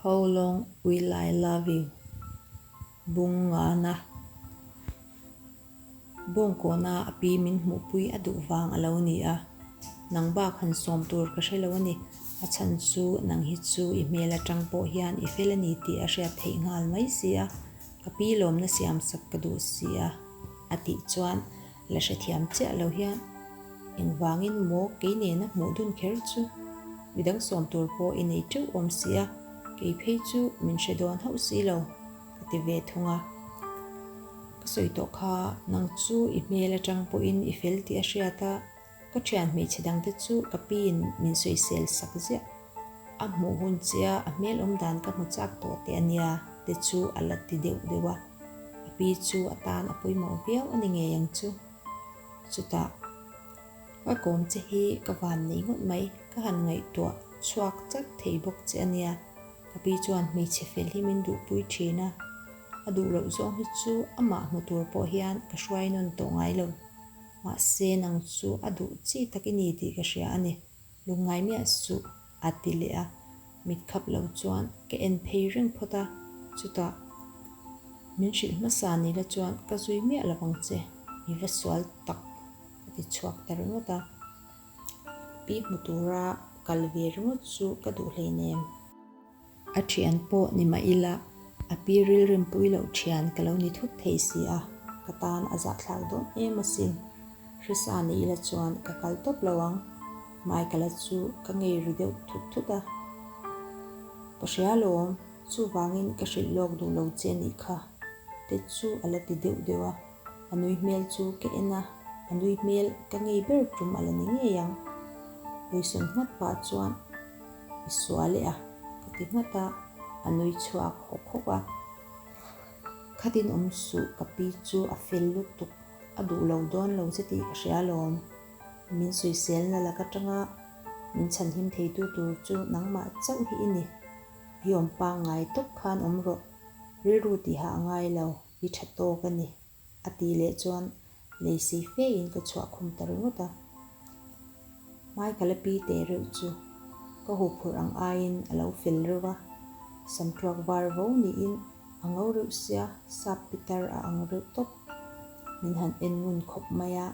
How long will I love you? bung nghana bawng kawna a pi min hmuhpui a duh vang a lo ni a, nang bak han sawm tur ka hre lo a ni, a chhan chu nang hi chu i hmel atang pawh hian i fel a ni tih a hriat theih nghal mai si a, ka pi lawmna siam sak ka duh si a, a tih chuan. La hrethiam chiah lo hian engvangin maw kei nena hmuh dun kher chu midang sawm tur pawh i nei teuh awm si a, kei phei chu min hre dawn hauh si lo ka ti ve thung a. Ka sawi tawh kha nang chu i hmel atang pawhin i fel tih a hriat a. Ka thian hmeichhe dang te chu ka pi in min sawi sel sak ziah. A hmuh hun chiah a, a hmel awm dan ka hmu chak tawh teh a nia te chu a la ti deuh deuh a. A pi chu a tan a pawimawh viau a ni ngei ang chu. Chutah ka kawm che hi ka van nei ngawt mai, ka han ngaihtuah chhuak chat thei bawk che a nia. Ka pi chuan hmeichhe fel hi min duhpui thin a, a duh loh zawng hi chu amah hmu tur pawh hian ka hruai nawn tawh ngai lo. Mahse nang chu a duh chi tak i ni tih ka hria a ni. Lungngai miah suh, a ti leh a. Mit khap lo chuan ka en phei reng phawt a, chutah, Min hrilh hmasa ni la chuan ka zui miah lo ang che, i va sual tak, ka ti chhuak ta ringawt a. Pi hmu tura kal ve ringawt chu ka duh hleinem. A thian pawh ni mah ila, a pi rilrim pui loh thian ka lo ni thut thei si a, ka tan a zahthlak dawn em asin. Hrisa ni ila chuan ka kal tawp lo ang. Michael-a chu ka ngei ri deuh thut thut a. Ka hria lawm, chuvangin ka hrilh lawk duh lo che nih kha. Te chu a la ti deuh deuh a, a nui hmel chu ka en a, a nui hmel ka ngei ber tum a la ni ngei ang. Hawisawn nghat pah chuan. I sual e a, ka ti nghat a, a nui chhuak hawk hawk a. Khatin awm suh ka pi chu a fel lutuk, a duh lo dawn lo che tih ka hria lawm. Min suiselna lak atanga min chhanhim theitu tur chu nangmah chauh hi i ni. I awm pangngai tawp khan awm rawh, rilru tihah a ngai lo, i tha tawk a ni. A tih leh chuan lei si fe in ka chhuah khum ta ringawt a. Hmai ka la pi teh reuh chu ka huphurh ang ai in a lo fel reuh a, sam tuak var vo ni in a ngo reuh sia, sap pitar a ang reuh tawp, min han en ngun khawp mai a.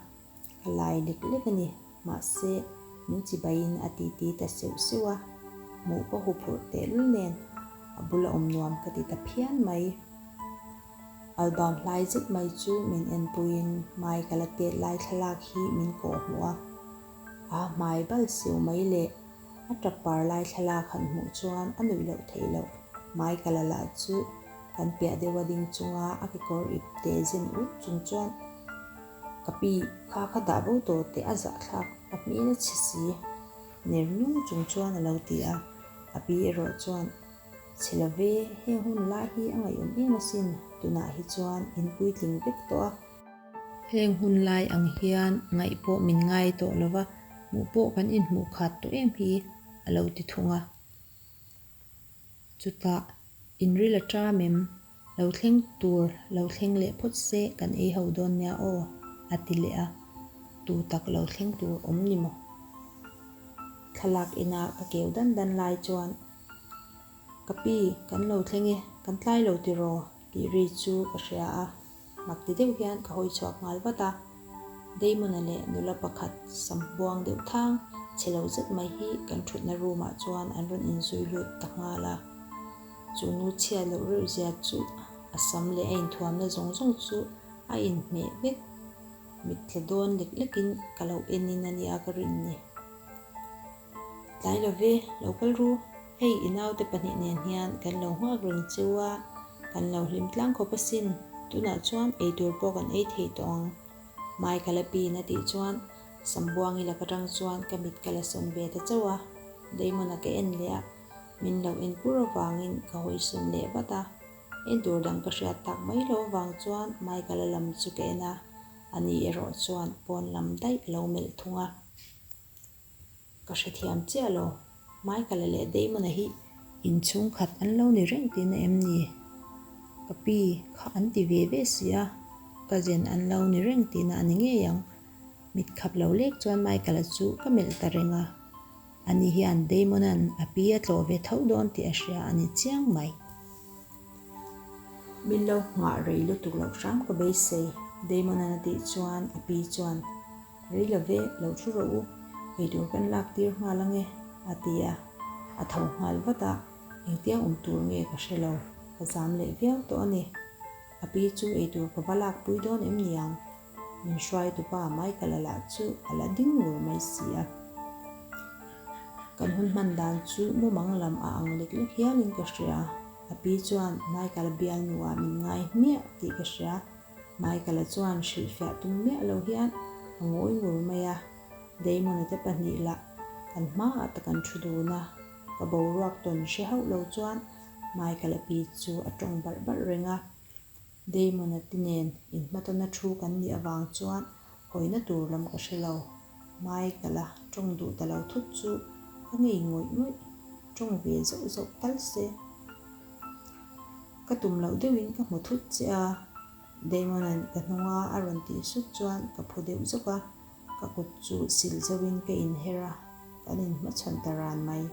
Ka lai lek lek a ni. Mahse, min chibaiin a titi ta seuh seuh a, hmuh pawh huphurh tehlul nen a bula awm nuam ka ti ta phian mai. Album hlai zet mai chu min en puiin hmai ka la tet lai thlalak hi min kawh hmu a. Aa hmai bal seuh mai leh a tap par lai thlalak han hmuh chuan a nuih loh theih loh. Hmai ka la lah chu kan piah deuha ding chunga a kekawr ip te zen ut chung chuan. Ka pi kha ka dah bo tawh teh a zahthlak a hmel a chhi si. Ner nung chung chuan a lo ti a. A pi erawh chuan, Chhe lo ve, heng hun lai hi a ngaihawm em asin, tunah hi chuan in puitling vek tawh a. Heng hun lai ang hian ngaih pawh min ngai tawh lo va, hmuh pawh kan inhmuh khat tawh em hi, a lo ti thung a. Chutah, in ril a ṭam em? Lo thleng tur lo thleng leh phawt se kan ei ho dawn nia aw, a ti leh a. Tû tak lo thleng tur awm ni maw? Thlalak inah ka keu dan dan lai chuan, Ka pi, kan lo thleng e, kan tlai lo tiraw? tih ri chu ka hria a. Mak ti deuh hian ka hawi chhuak nghal vat a, Damon-a leh nula pakhat sam buang deuh thang chhe lo zet mai hi kan thutna room-ah chuan an rawn inzui lut ta nghal a. Chu nu chhiat loh reuh zia chu a sam leh a inthuamna zawng zawng chu a inhmeh vek. Mittla dawn lek lekin ka lo en in a nia ka rin ni. Tlai love, lo kal ru. Hei i naute pahnih nen hian kan lo nghak reng chua, kan lo hlim tlang khawp asin, tunah chuan ei tur pawh kan ei thei tawh ang. Hmai ka la pin a tih chuan Sambuangi lak atang chuan ka mit ka la sawn ve ta chauh a, Damon a ka en leh a, min lo en pur avangin ka hawi sawn leh vat a. En tur dang ka hriat tak mai lo avang chuan hmai ka la lam chu ka en a, ani erawh chuan pawn lam daih a lo melh thung a. Ka hrethiam chiah lo. Hmai ka la leh daihmun a hih. In chhungkhat an lo ni reng tih na em ni? Ka pi kha an ti ve ve si a, cousin an lo ni reng tih na a ni ngei ang. Mit khap lo lek chuan Michael-a chu ka melh ta reng a, a ni hian Damona'n a pi a tlawh ve tho dawn tih a hria a ni chiang mai. Min lo nghah rei lutuk loh hram ka beisei, Damona'n a tih chuan a pi chuan. Rei lo ve, lo thu rawh u, eitur kan lak tir nghal ange, a ti a. A tho nghal vat a, engtiang awm tur nge ka hre lo, ka zam leh viau tawh a ni. A pi chu eitur ka va lakpui dawn em ni ang? Min hruai tu pa mai ka la lah chu a la ding ngur mai si a. Kan hun hman dan chu mumang lam a ang lek lek hialin ka hria. A pi chuan, Michael bialnu ah min ngai hmiah tih ka hria. Michael-a chuan hrilh fiah tum miah loh hian a ngawi ngur mai a, Damon-a te pahnih lah kan hmaah ta kan thu dun a, ka boruak tawn hre hauh lo chuan Michael-a pi chu a tawng barh barh reng a, Damon-a ti nen in hma tawn a thu kan nih avang chuan hawina tur lam ka hre lo. Hmai ka la, tawng duh ta lo thut chu ka ngei ngawih ngawih, tawng ve zauh zauh tal se. Ka tum loh deuhin ka hmu thut che a, Damon-a'n ka hnunga a rawn tih sut chuan ka phu deuh zawk a, ka kut chu sil zauhin ka inher a, kan inhmachhawn ta ran mai.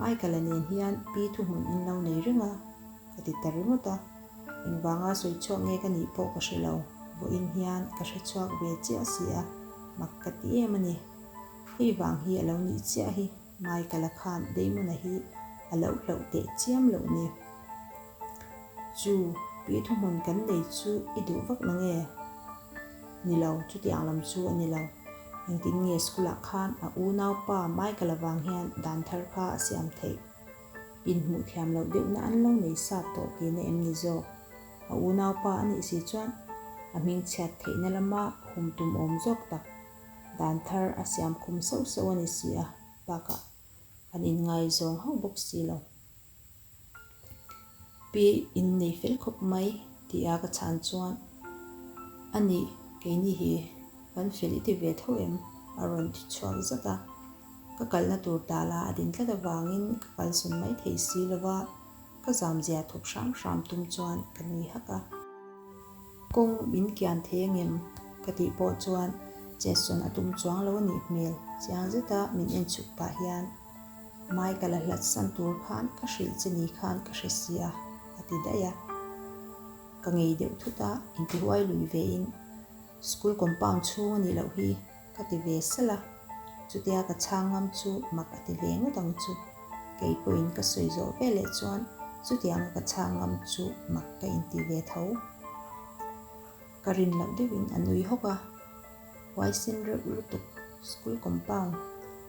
Michael-a nen hian pi thuhmun in lo nei reng a, ka ti ta ringawt a. Engvanga sawi chhuak nge ka nih pawh ka hre lo, vawiin hian ka hre chhuak ve chiah si a, mak ka ti em a ni. Hei vang hi a lo nih chiah hi, Michael-a khan Damon-a hi a lo hlauh teh chiam loh ni. Chu Pi thuhmun kan nei chu i duh vak na nge? Ni lo, chutiang lam chu a ni lo. Engtin nge school ah khan a unau pa Michael avang hian dan thar kha a siam theih? Inhmuh thiam loh deuhna an lo nei sa tawh ti na em ni zawk? A unau pa a nih si chuan a hming chhiat theihna lama hum tum awm zawk tak dan thar a siam khum sauh sauh a ni si a, bakah kan inngaizawng hauh bawk si lo. Pi in nei fel khawp mai tih a ka chhan chuan a nih keini hi kan fel i ti ve tho em? a rawn ti chhuak zat a. Ka kalna tur ta la a din tlat avangin ka kalsawn mai thei si lo va, ka zam zia thawk hram hram tum chuan ka nui hak a. Kawng min kian thei angem? ka tih pawh chuan chetsawn a tum chuang lo a nih hmel chiang zeta min en chhuk pah hian. Michael-a hlatsan tur khan ka hrilh che ni khan ka hre sia, a ti daih a. Ka ngei deuh thut a, intihuai lui ve in, School compound chhung a nih loh hi ka ti ve sal a, chutia ka chhang ngam chu mak a ti ve ngawt ang chu. Kei pawhin ka sawi zawh ve leh chuan chutianga ka chhang ngam chu mak ka inti ve tho. Ka rin loh deuhin a nui hawk a, uai sin reuh lutuk school compound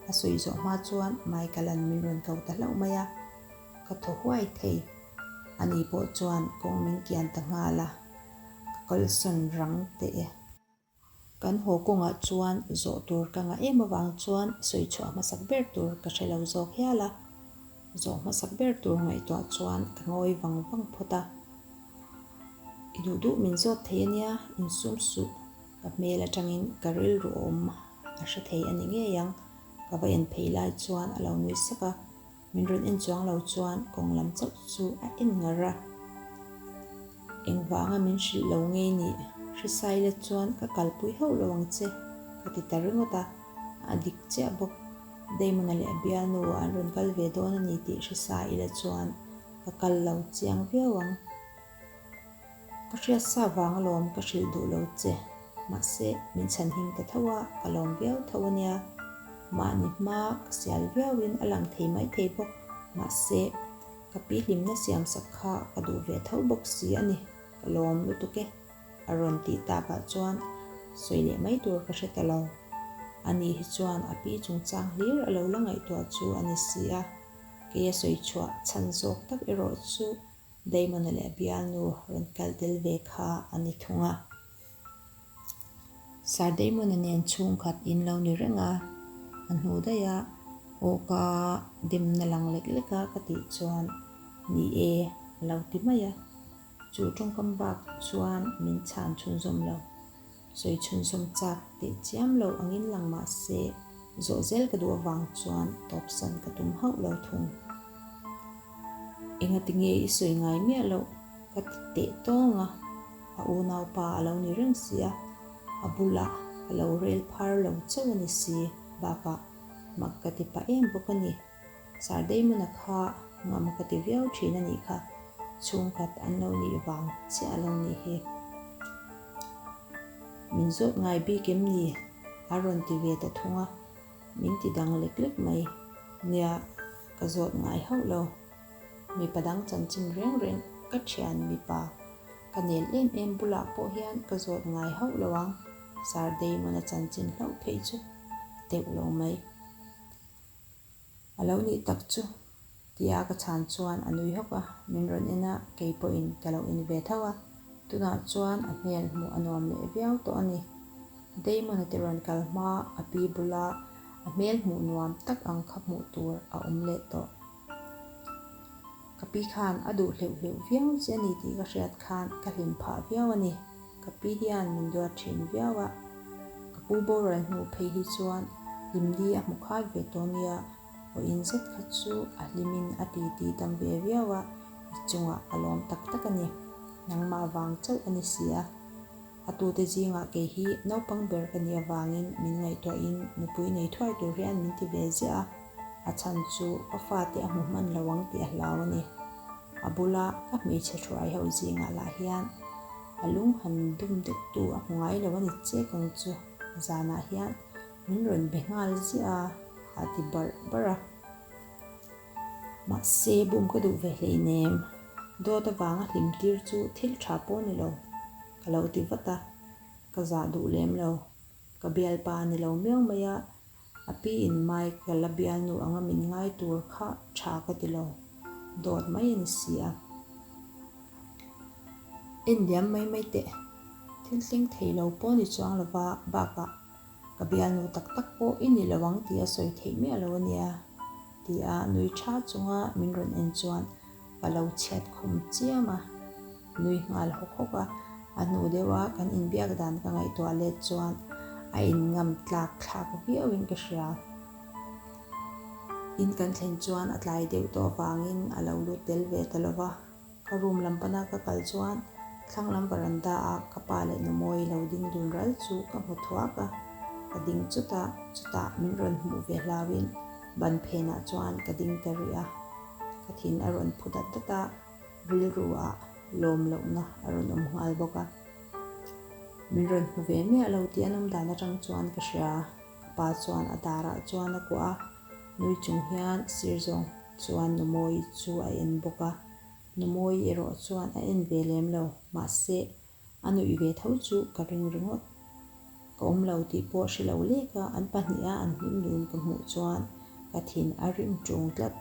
a sawi zawh hma chuan mai ka lan min rawn kau ta hlauh mai a, ka thaw huai thei, a ni pawh chuan kawng min kian ta nghal a, ka kalsan rang teh e. Kan haw kawngah chuan zawh tur ka ngah em avang chuan sawi chhuah hmasak ber tur ka hre lo zawk hial a. Zawh hmasak ber tur ngaihtuah chuan ka ngawi vang vang phawt a, i duh duh min zawt thei ania, insum suh ka hmel atangin ka rilru a awm a hre thei a ni ngei ang. Ka va en phei lai chuan a lo nui sak a, min rawn en chuang lo chuan kawng lam chauh chu a en ngar a, engvanga min hrilh lo ngei nih hrisai let chuan ka kalpui hauh lo ang che ka ti ta ringawt a. A dik chiah bawk. Damon-a leh a bialnu-ah an rawn kal ve dawn a ni tih hre sa ila chuan ka kal lo chiang viau ang. Ka hriat sa vang alawm ka hrilh duh lo che, mahse min chhan him ta tho a, ka lawm viau tho a nia. Mahni hma ka sial viauin a lang thei mai thei bawk. Mahse, ka pi hlimna siam sak kha ka duh ve tho bawk si a ni. Ka lawm lutuk e. a rawn tih ta pah chuan sawi leh mai tur ka hre ta lo. A ni hi chuan a pi chungchang hlir a lo la ngaihtuah chu a ni si a, kei a sawi chhuah chhan zawk tak erawh chu Daimona leh a bialnu rawn kal tel ve kha a ni thung a. Sir Daimona nen chhungkhat in lo ni reng a, a hnu daih a awk a demna lang lek lek a ka tih chuan ni e a lo ti mai a, Chu tawngkam bak chuan min chhan chhunzawm lo, sawi chhunzawm chak teh chiam lo angin lang mahse zawh zel ka duh avang chuan tawpsan ka tum hauh lo thung. Enga tinge i sawi ngai miah loh? ka ti teh tawng a, a unau pa a lo ni reng si a, a bulah ka lo rel phar lo chauh a ni si bakah mak ka ti pah em bawk a ni. Sir Damona kha ngam ka ti viau thin a nih kha, chhungkhat an lo nih vang chiah lo ni hi. Min zawt ngai bik em ni? a rawn ti ve ta thung a, min ti dang lek lek mai. Nia, ka zawt ngai hauh lo. Mipa dang chanchin reng reng ka thian mipa ka nel em em bulah pawh hian ka zawt ngai hauh lo ang, Sir Damona chanchin hlauh phei chu deuh lo mai. A lo nih tak chu, ti a ka chhan chuan a nui hawk a, min rawn en a, kei pawhin ka lo en ve tho a, tunah chuan a hmel hmuh a nuam leh viau tawh a ni. Damon a tirawn kal hma a pi bula a hmel hmuh nuam tak ang kha hmuh tur a awm leh tawh. Ka pi khan a duh hleuh hleuh viau che a ni tih ka hriat khan ka hlim phah viau a ni. Ka pi hian min duat thin viau a, ka pu boral hnu phei hi chuan hlim di a hmu khai ve tawh nia, haw in zet khat chu a hlim in a ti ti tam ve viau a, i chungah ka lawm tak tak a ni. Nangmah vang chauh a ni si a. A tute zingah kei hi naupang ber ka nih avangin min ngaihtuahin nupui nei thuai tur hian min ti ve ziah a, a chhan chu ka fate a hmu hman lo ang tih a hlau a ni. A bula ka hmeichhe hruai ho zingah lah hian a lung han dum deuh tu a hmu ngai lo a ni chek ang chu zanah hian min rawn be nghal ziah a, a ti barh barh a. Mahse, bum ka duh ve hleinem. Dawt avanga hlim tir chu thil tha pawh ni lo, ka lo ti vat a, ka zah duh lem lo. Ka bialpa ni lo miau mai a, a piin Mike ka la bialnu anga min ngai tur kha tha ka ti lo. Dawt mai a ni si a. Endiam mai mai teh, thil tleng thei lo pawh ni chuang lova, bakah. Ka bianu tak tak pawh i nih lo ang tih a sawi theih miah lo a nia. Ti a nui tha chunga min rawn en chuan ka lo chhiat khum chiam a, nui nghal hawk hawk a. A hnu deuh a kan inbiak dan ka ngaihtuah let chuan a in ngam tlak thlak viau in ka hria. In kan thlen chuan a tlai deuh tawh vangin a lo lut tel ve ta lo va. Ka room lam pana ka kal chuan thlang lam veranda a ka pa leh numawi lo ding dun ral chu ka hmu thuak a, ka ding chut a, chutah min rawn hmuh ve hlauin ban phenah chuan ka ding ta rih a, ka thin a rawn phu dat dat a, rilru a lawm lohna a rawn awm nghal bawk a, min rawn hmu ve miah lo tih an awm dan atang chuan ka hria, ka pa chuan a darah chuan a kuah a. Nui chung hian sir zawng chuan Numawi chu a en bawk a, Numawi erawh chuan a en ve lem lo, mahse a nuih ve tho chu ka ring ringawt. Ka awm lo tih pawh a hre lo lek a, an pahnih a an hlimlun ka hmuh chuan ka thin a rim ṭung tlat.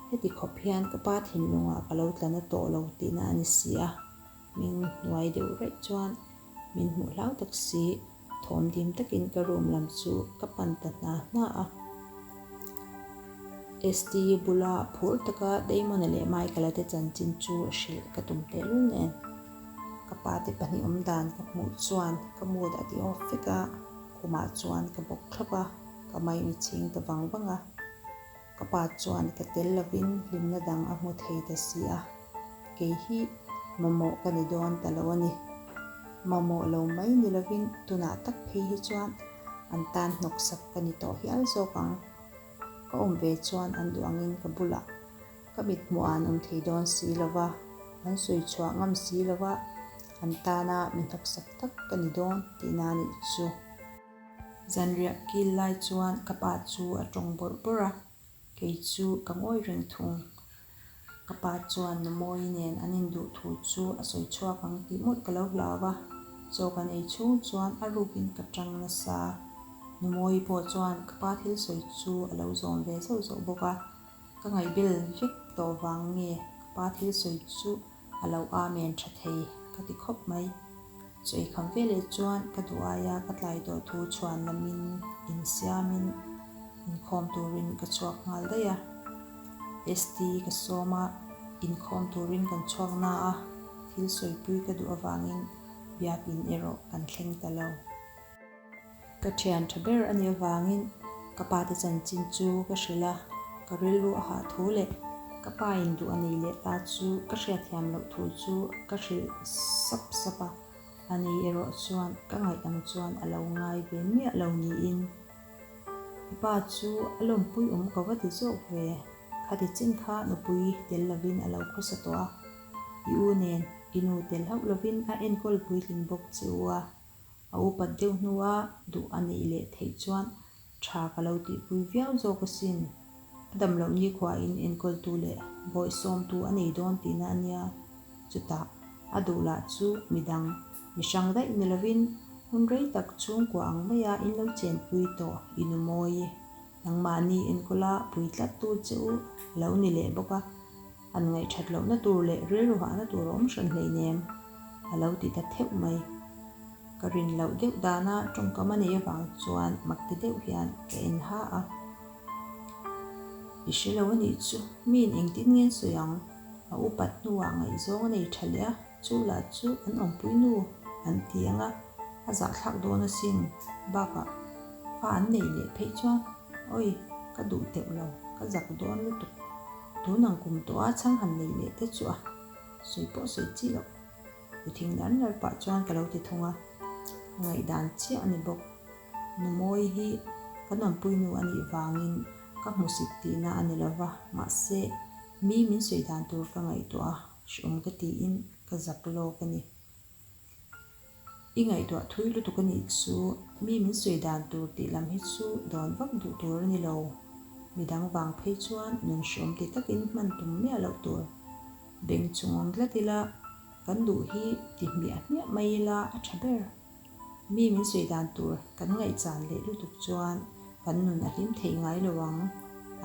Heti khawp hian ka pa thinlungah ka lo tla na tawh lo tihna a ni si a. Min hnuai deuh raih chuan min hmuh hlau tak si, thawm dim takin ka room lam chu ka pan ta hna hna a. ST bula phur taka Damon-a leh Michael-a te chanchin chu hrilh ka tum tehlul nen. Ka pa te pahnih awm dan ka hmuh chuan ka mood a ti off vek a, khumah chuan ka bawk thlap a, ka mine a chhing ta vang vang a. Ka pa chuan ka tel lovin hlimna dang a hmu thei ta si a, kei hi mamawh ka ni dawn ta lo a ni. Mamawh lo mai ni lovin tunah tak phei hi chuan an tan hnawk sak ka ni tawh hial zawk ang. Ka awm ve chuan an duh angin ka bulah ka mithmuh an awm thei dawn si lo va, an sawi chhuah ngam si lo va, an tana mi hnawk sak tak ka ni dawn tihna a nih chu. Zanriah kil lai chuan ka pa chu a tawng bawrh bawrh a, kei chu ka ngawi reng thung. Ka pa chuan numawi nen an induh thu chu a sawi chhuak ang tih mawlh ka lo hlau a, chaw kan ei chhung chuan a ruk in ka chang nasa. Numawi pawh chuan ka pa thil sawi chu a lo zawm ve zauh zauh bawk a, ka ngaihbel vek tawh vang nge ka pa thil sawi chu a lo a men tha thei ka ti khawp mai. Sawi kham ve leh chuan ka duh ai a, ka tlai tawh thu chhuan lam in in siam in in khawm tur in ka chhuak nghal daih a. ST ka sawm a, in khawm tur in kan chhuak na a, thil sawipui ka duh avang in biak in erawh kan thleng ta lo. Ka thian tha ber a nih avangin ka pa te chanchin chu ka hrilh a, ka rilru a hah thu leh ka pa in duh a nei leh ta chu ka hriatthiam loh thu chu ka hrilh sap sap a, a ni erawh chuan ka ngaih ang chuan a lo ngai ve miah lo niin i pa chu a lawmpui awm ko va ti zawk ve, khati chin kha nupui tel lovin a lo khawsa tawh a, i u nen i nu tel hauh lovin a enkawl puitling bawk che u a. A upat deuh hnu a duh a neih leh theih chuan tha ka lo tihpui viau zawk asin. A damloh nikhua in enkawltu leh bawi sawmtu a nei dawn tihna a nia. Chutah a duh lah chu midang mi hrang daih ni lovin hun rei tak chhungkua ang maia in lo chenpui tawh i nu maw i? Nangmahni enkawla pui tlat tu che u a lo ni leh bawk a. An ngaihthat lohna tur leh rilru hahna tur a awm hran hleinem a lo ti ta theuh mai. Ka rin loh deuh dana tawngkama nei avang chuan Makti deuh hian ka en ha a. I hre lo a nih chu, miin engtin ngen sawi ang? A upat hnuah ngaihzawng a nei tha leh a. Chu lah chu an awmpui nu an ti ang a, a zahthlak dawn asin bakah fa an neih leh phei chuan Awi ka duh teuh lo, ka zak dawn lutuk, tun ang kum tawh a chhang han neih leh te chu a sawi pawh sawi chi loh, u thing lar lar pah chuan ka lo ti thung a, ngaihdan chiah a ni bawk, numawi hi kan awmpui nu a nih vangin ka hmu sik tihna a ni lova, mahse mi min sawi dan tur ka ngaihtuah a. Hriawm ka tiin ka zak lawk a ni. I ngaihtuah thui lutuk a nih chu. Mi min sawi dan tur tih lam hi chu dawn vak duh tur a ni lo. Midang vang phei chuan nun hriawm ti takin hman tum miah loh tur. Beng chungawm dlat ila kan duh hi ti hmiah hmiah mai ila a tha ber. Mi min sawi dan tur kan ngaihchan leh lutuk chuan kan nun a hlim theih ngai lo ang,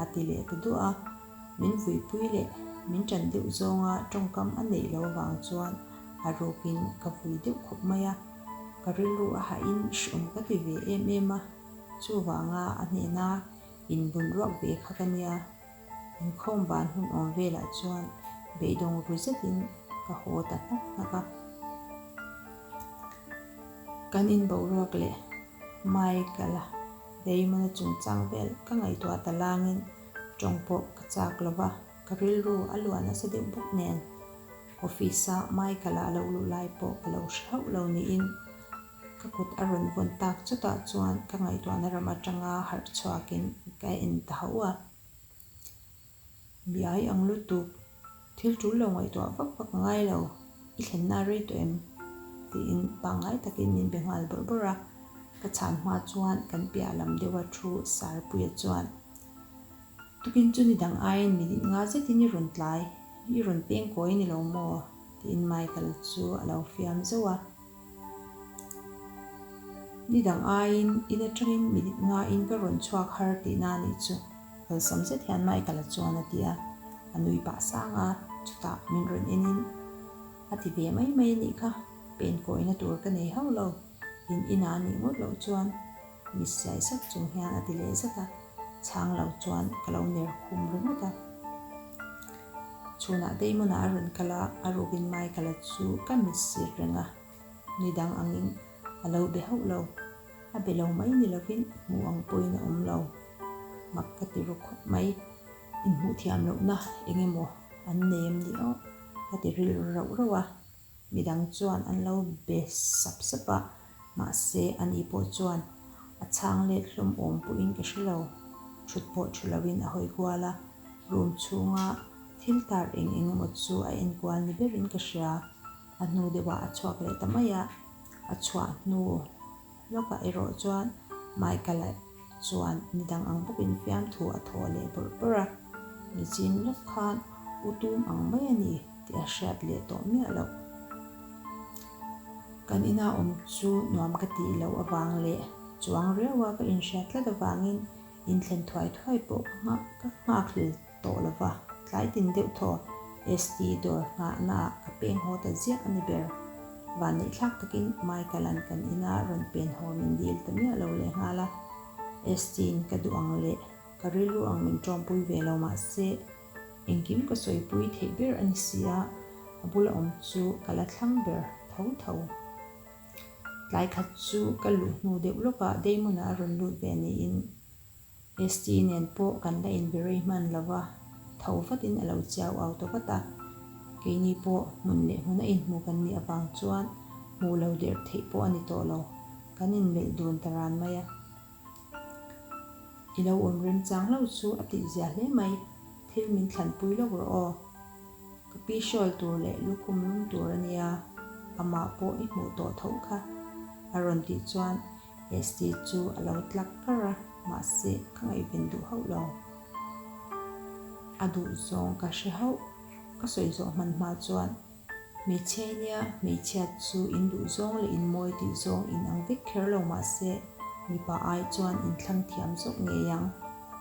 a ti leh ta duah a. Min vuipui leh min tan deuh zawnga tawngkam a neih lo vang chuan a rukin ka vui deuh khawp mai a, ka rilru a hahin hriawm ka ti ve em em a. Chuvanga a hnena inbun ruak ve kha ka nia. Inkhawm ban hun awm velah chuan beidawng rui zetin ka haw ta hnak hnak a. Kan in boruak leh Michael-a Damon-a chungchang vel ka ngaihtuah ta langin tawng pawh ka chak lo va, ka rilru a luan nasa deuh bawk nen. Office-a Michael-a a lo luh lai pawh ka lo hre hauh lo niin. Ka kut a rawn vawn tak chutah chuan ka ngaihtuahna ram atanga harh chhuakin ka en ta hauh a. Biai ang lutuk, thil tul lo ngaihtuah vak vak a ngai lo, i thlenna a rei tawh em? tiin pangngai takin min be nghal bawrh bawrh a. Ka chhan hma chuan kan piah lam deuha thu Sarpuia chuan, Tukin chu ni dang aiin mi dinh nga zetin i rawn tlai, i rawn pengkawi a ni lo maw? tiin Michael chu a lo fiam zeuh a. Ni dang aiin in atangin minute ngaiin ka rawn chhuak har tih na nih chu kalsam zet hian mai ka la chuan a ti a, a nui pah sang a, chutah min rawn enin a ti ve mai mai anih kha, pen kawina tur ka nei hauh lo, in inah anih ngawt loh chuan. Miss Sai Sak chung hian a ti leh zat a, chhang lo chuan ka lo ner khum ringawt a. Chhunah Deimonah a rawn kal a, a rukin mai ka la chu ka miss sir reng a, nidang angin a lo be hauh lo, a be lo mai ni lovin hmuh ang pawhin a awm lo, mak ka ti ru khawp mai. Inhmuh thiam lohna eng emaw an nei em ni aw? Ka ti rilru rauh rauh a. Midang chuan an lo be sap sap a, mahse a ni pawh chuan a chhang let hlawm awm pawhin ka hre lo. Thut pawh thu loin a hawi kual a, room chhunga thil tar eng eng emaw chu a en kual ni berin ka hria. A hnu deuhah a chhuak leh ta mai a, a chhuah hnu. Lawkah erawh chuan Michael-a chuan ni dang ang bawkin fiamthu a thawh leh bawrh bawrh a, Michin lawk khan u tum ang mai a ni tih a hriat leh tawh miah loh. Kan inah awm chu nuam ka tih loh avang leh chuang riau a ka inhriat tlat avangin inthlen thuai thuai pawh ka nghak hlel. tawh lo va, tlai tin deuh thaw ST dawr nghahnaah ka pek nghaw ta ziah a ni ber. Van neih thlak takin Michael-a'n kan ina rawn pen haw min dil ta miah lo leh nghal a, ST-in ka duh ang leh ka rilru ang min ṭawmpui ve lo mah se, engkim ka sawipui theih ber a ni si a, a bula awm chu ka la thlang ber tho tho. Tlai khat chu ka luh hnu deuh lawkah Damon-a a rawn lut ve niin. ST nen pawh kan la inbirei hman lo va, tho vatin a lo chiau auto vat a. Keini pawh hmun leh hmun a inhmu kan nih avang chuan hmuh lo der theih pawh a ni tawh lo, kan inmelh dun ta ran mai a. I lo awm remchang lo chu a tih zia hle mai, thil min thlan pui lo rawh aw. Ka pi hrawl tur leh lukhum lum tur a nia, amah pawh i hmuh tawh tho kha, a rawn tih chuan ST chu a lo tlak kar a, mahse ka ngaihven duh hauh lo. A duh zawng ka hre hauh. Ka sawi zawh hmanhmah chuan hmeichhia i nia, hmeichhia chu in duh zawng leh in mawi tih zawng in ang vek kher lo mahse mipa ai chuan in thlang thiam zawk ngei ang,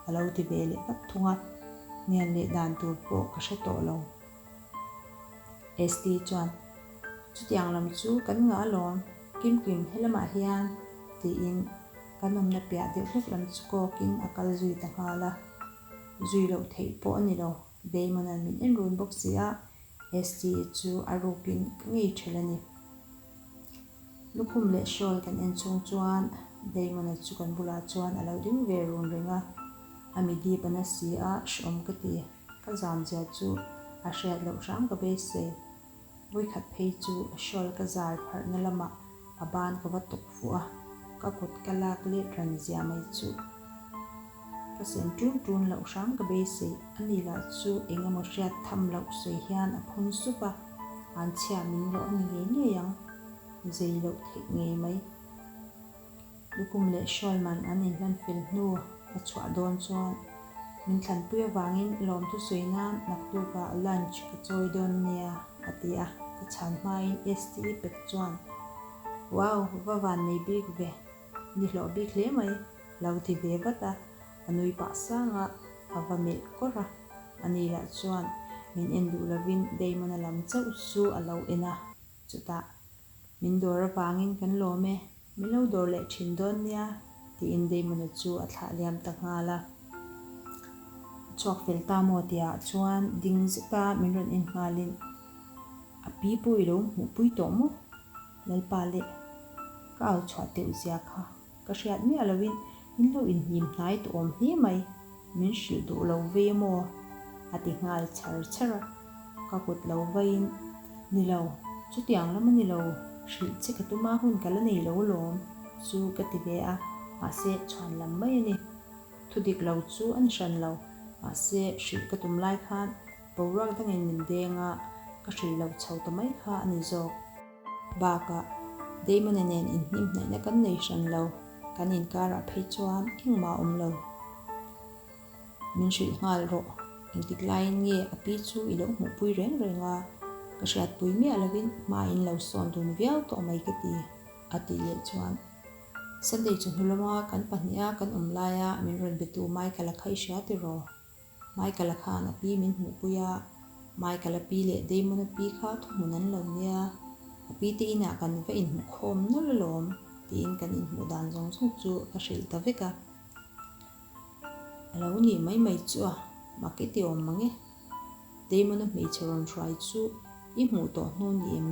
a lo ti ve leh vat thung a. Mian leh dan tur pawh ka hre tawh lo. ST chuan, Chutiang lam chu kan ngah lawm, Kimkim helamah hian, tiin kan awmna piah deuh hlek lam chu kawkin a kal zui ta nghal a. Zui loh theih pawh a ni lo, Damon an min en run bawk si a, ST chu a rukin ka ngei ṭhel a ni. Lukhum leh shawl kan en chhung chuan Damon a chu kan bulah chuan a lo ding ve run reng a, a mi dip a na si a, hre awm ka ti. Ka zan zia chu a hriat loh hrang ka be se. Voikhat phei chu a shawl ka zal pharhna lamah a ban ka va tuk fuh a, ka kut ka lak let ran zia mai chu ka sen ṭun ṭun loh hrang ka be se. A nih lah chu eng emaw hriat tham loh sawi hian a phun sup a, an chhia min loh a ni ngei ngei ang, zei loh theih ngei mai. Lukum leh Shawlman an inhlanfil hnu a chhuah dawn chuan min thlanpui avangin lawmtu sawi nan naktukah lunch ka chawi dawn nia a ti a, ka chhan hmain ST i pek chuan Wow! Va van nei bik ve, ni hlawh bik hle mai, lo ti ve vat a, a nui pah sanga a va melh kawr a, ani lah chuan min en duh lovin Damona lam chauh chu a lo en a. Chutah, Min dawr avangin kan lawm e, min lo dawr leh thin dawn nia, tiin Deimanu chu a thlah liam ta nghal a. A chhuak fel ta maw tihah chuan ding zeta min rawn en nghalin, A pi pawh i lo hmuhpui tawh maw, Lalpa leh ka au chhuah teuh zia kha. Ka hriat miah loin in lo inhnim hnai ta awm hle mai, min hrilh duh lo ve emaw? a ti nghal chher chher a. Ka kut lo vaiin, Ni lo, chutiang lam a ni lo, hrilh che ka tuma hun ka la nei lo lawm chu ka ti ve a, mahse chhuan lam mai a ni. Thu dik lo chu a ni hran lo, mahse hrilh ka tum lai khan boruak dangin min deng a, ka hrilh loh chho ta mai kha a ni zawk. Bakah, Damon-a nen inhnimhnaihna kan nei hran lo, kan inkarah phei chuan engmah awm lo. Min hrilh nghal rawh, engtiklaiin nge a pi chu i lo hmuhpui reng reng a, ka hriatpui miah lovin hma in lo sawn dun viau tawh mai ka ti, a tih leh chuan Sunday chu hnulawma kan pahniha kan awm laia min rawn be tu Michael-a kha i hria tiraw? Michael-a khan a pi min hmuh pui a, Michael-a pi leh Damon-a pi kha thuhmun an lo nia, a pi te inah kan va inhmuh khawm nawlh alawm tiin kan inhmuh dan zawng zawng chu ka hrilh ta vek a. A lo nih mai mai chu a, mak i ti awm mang e. Damona hmeichhe rawn hruai chu i hmuh tawh hnu ni em?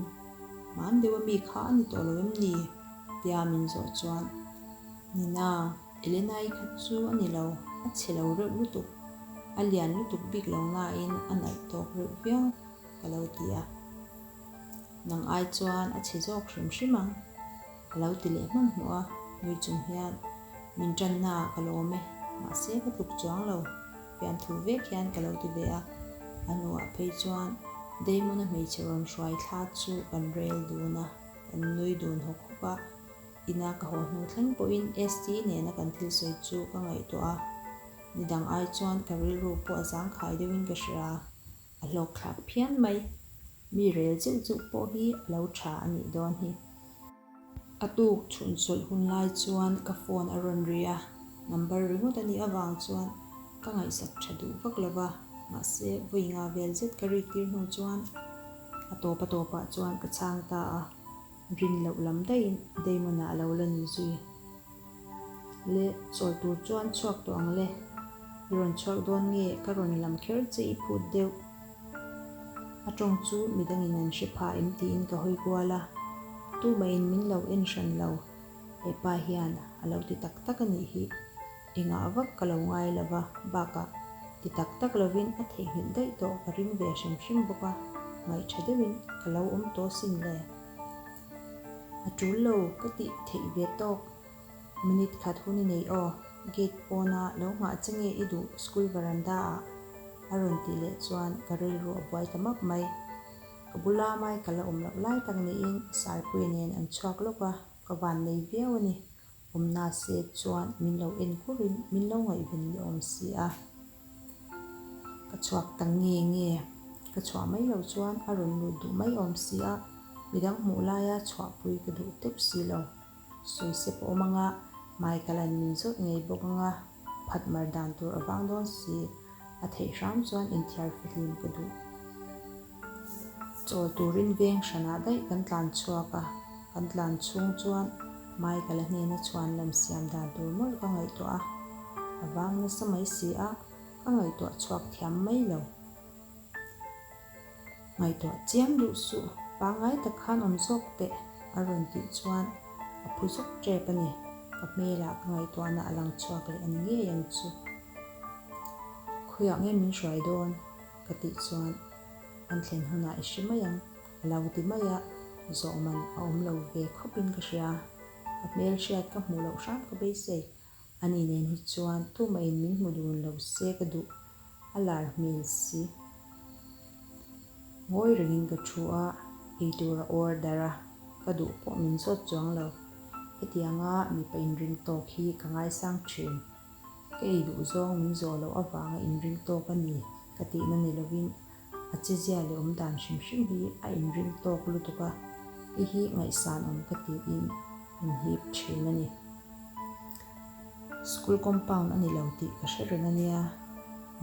Hmaan deuha mi kha a ni tawh lo em ni? tia min zawh chuan, Nina, Elena-i khat chu a ni lo, a chhe lo reuh lutuk, a lian lutuk bik lo nain a nalh tawk reuh viau, ka lo ti a. Nang ai chuan a chhe zawk hrim hrim ang, a lo ti leh hman hmuh a, nui chung hian min tanna ka lawm e, mahse ka tluk chuang lo. Fiam thu vek hian ka lo ti ve a. A hnuah phei chuan Damona hmeichhe rawn hruai thla chu kan rel dun a, kan nui dun hawk hawk a. Ina ka haw hnu thleng pawhin ST nena kan thil sawi chu ka ngaihtuah a. Ni dang ai chuan ka rilru pawh zangkhai deuhin ka hria a, a hlawk thlak phian mai. Mi rel zeuh zeuh pawh hi a lo tha a nih dawn hi. A tuk chhun chawlh hun lai chuan ka phone a rawn ri a, number ringawt a nih avang chuan ka ngaihsak tha duh vak lo va, mahse vawi nga vel zet ka ri tir hnu chuan a tawp a tawp ah chuan ka chhang ta a, rin loh lam daihin Damon-a a lo la ni zui. Le chawl tur chuan chhuak tawh ang le. I rawn chhuak dawn nge ka rawn lam kher che i phut deuh. A tawng chu mi dangin an hre phah em tiin ka hawi kual a. Tu mahin min lo en hran lo. Hepa hian a lo ti tak tak a nih hi. I ngah vak ka lo ngai lova bakah ti tak tak lovin a theihnghilh daih tawh ka ring ve hrim hrim bawk a. Ngaih tha deuhin ka lo awm tawh sin le. A tul lo ka tih theih ve tawk. Minute khat hun i nei aw, gate pawna lo nghah che nge i duh school veranda ah? A rawn tih leh chuan ka rilru a buai ta map mai. Ka bula Michael a awm loh lai tak niin Sarpuii nen an chhuak lawk a, ka vannei viau a ni. Awm na se chuan min lo en kur in min lo ngaih ven ni awm si a, ka chhuak ta nge nge ka chhuah mai lo chuan a rawn lut duh mai awm si a, midang hmuh lai a chhuah pui ka duh teuh si lo, sawi se pawh awm ang a hmai ka lan min zawt ngei bawk ang a, phat mar dan tur a vang dawn si, a theih hram chuan inthiar fahlim ka duh. Chawl turin veng hranah daih kan tlan chhuak a, kan tlan chhung chuan Michael-a hnena chhuan lem siam dan tur mawlh ka ngaihtuah a, a vang nasa mai si a, ka ngaihtuah chhuak thiam mai lo. Ngaihtuah chiam duh suh, pangngai tak khan awm zawk teh, a rawn tih chuan a phu zawk tep a ni, ka hmelah ka ngaihtuahna a lang chhuak leh a ni ngei ang chu. Khawiah nge min hruai dawn? ka tih chuan an thlen hunah i hre mai ang, a lo ti mai a, zawhman a awm lo ve khawpin ka hria, a hmelhriat ka hmuh loh hram ka beisei a, a ni nen hi chuan tumahin min hmu dun lo se ka duh a lar hmel si ngawi rengin ka thu a, eitur a order a ka duh pawh min zawt chuang lo, hetianga mipa inringtawk hi ka ngaisang thin. Ka ei duh zawng min zawh loh avanga inring tawk a ni ka tihna ni lovin a chizia leh awm dan hrim hrim hi a inring tawk lutuk a, i hi ngaihsan awm ka tiin min hip thin a ni. School compound a ni lo tih ka hre rin a nia,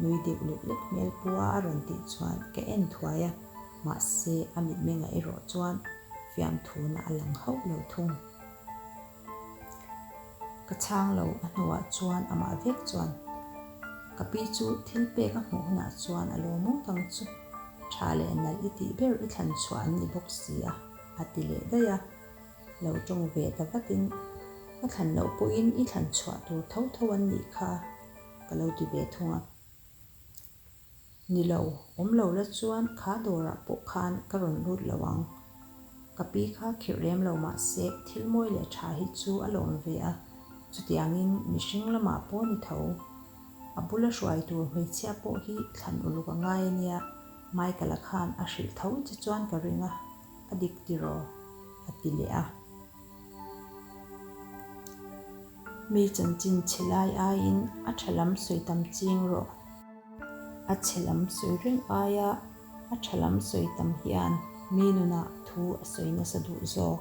nui deuh lek lek hmel pua a rawn tih chuan ka en thuai a, mahse a mitmeng ah erawh chuan fiamthuna a lang hauh lo thung. Ka chhang lo a hnuah chuan amah vek chuan ka pi chu thil pek a hmuh hunah chuan a lawm awm dang chu tha leh nalh i tih ber i thlan chhuah an ni bawk si a, a ti leh daih a. Lo tawng ve ta vatin, Ka thlan loh pawhin i thlan chhuah tur tho tho an nih kha ka lo ti ve thung a. Ni lo, awm lo la chuan kha dawrah pawh khan ka rawn lut lo ang. Ka pi kha khirh rem lo mah se thil mawi leh tha hi chu a lawm ve a, chutiangin mihring lamah pawh ni tho. A bula hruai tur hmeichhia pawh hi thlan uluk a ngai ania, Michael-a khan a hrilh tho che chuan ka ring a. a dik tiraw? a ti leh a. Mi chanchin chhe lai aiin a tha lam sawi tam ching rawh. A chhe lam sawi reng aia a tha lam sawi tam hian mi nunah thu a sawi nasa duh zawk.